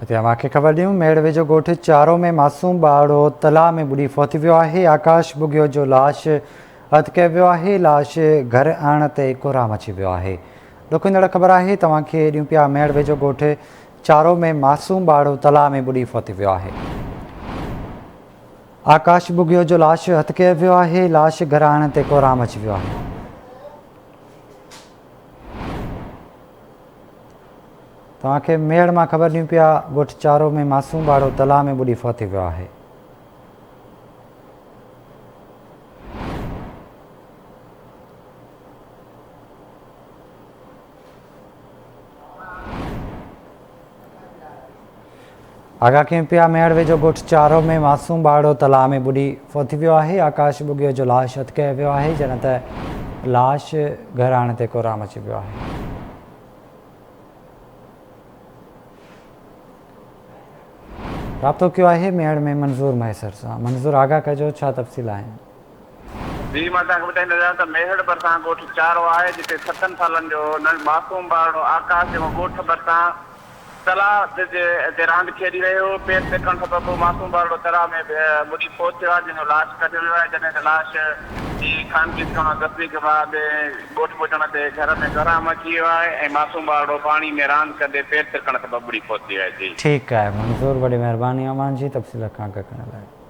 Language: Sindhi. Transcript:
اتي اوهان کي خبر ڏيون ميڙ ويجهو ڳوٺ چارو ۾ معصوم ٻارڙو تلاء ۾ ٻڏي فوت ويو آهي آڪاش ٻگهيو جو لاش اڌ ڪيو ويو آهي لاش گهر آڻڻ تي ڪورهام اچي ويو آهي ڏکندڙ خبر آهي توهان کي ڏيون پيا ميڙ ويجهو ڳوٺ چارو ۾ معصوم ٻارڙو تلاء ۾ ٻڏي فوت ويو آهي آڪاش ٻگهيو جو لاش اڌ ڪيو ويو آهي لاش گهر آڻڻ تي ڪورهام اچي ويو آهي توهان کي ميڙ مان خبر ڏيون پيا ڳوٺ چارو ۾ معصوم ٻاڙو تلاء ۾ ٻڏي فوت ٿي ويو آهي. آغا کين پيا ميهڙ ويجهو ڳوٺ چارو ۾ معصوم ٻارڙو تلاء ۾ ٻڏي فوت ٿي ويو آهي، آڪاش ٻگهيو جو لاش هٿ ڪيو ويو آهي، جڏهن ته لاش گهر آڻڻ تي ڪوران مچي پيو آهي. رابطو ڪيو آهي ميهڙ ۾ منظور مهيسر سان، منظور آغا ڪجو ڇا تفصيل آهن؟ جي مان توهانکي ٻڌائيندو ويان ته ميهڙ ڀرسان ڳوٺ چارو آهي جتي ستن سالن جو ننڍ معصوم ٻارڙو آڪاش جيڪو ڳوٺ ڀرسان تلاء جي تي راند کيڏي رهيو هو پير ترڪڻ سبب معصوم ٻارڙو تلاء ۾ ٻڏي فوت ٿيو آهي جنهن جو لاش ڪڍيو ويو آهي جڏهن ته لاش جي خانگي ٿيڻ دفني کان بعد ڳوٺ پهچڻ تي گهر ۾ ڪهرام اچي ويو آهي ۽ معصوم ٻارڙو پاڻي ۾ راند ڪندي پير ترڪڻ سبب ٻڏي فوت ٿي ويو آهي جي. ٺيڪ آهي منظور وڏي مهرباني امان جي تفصيل کان اڳ ڪرڻ لاء.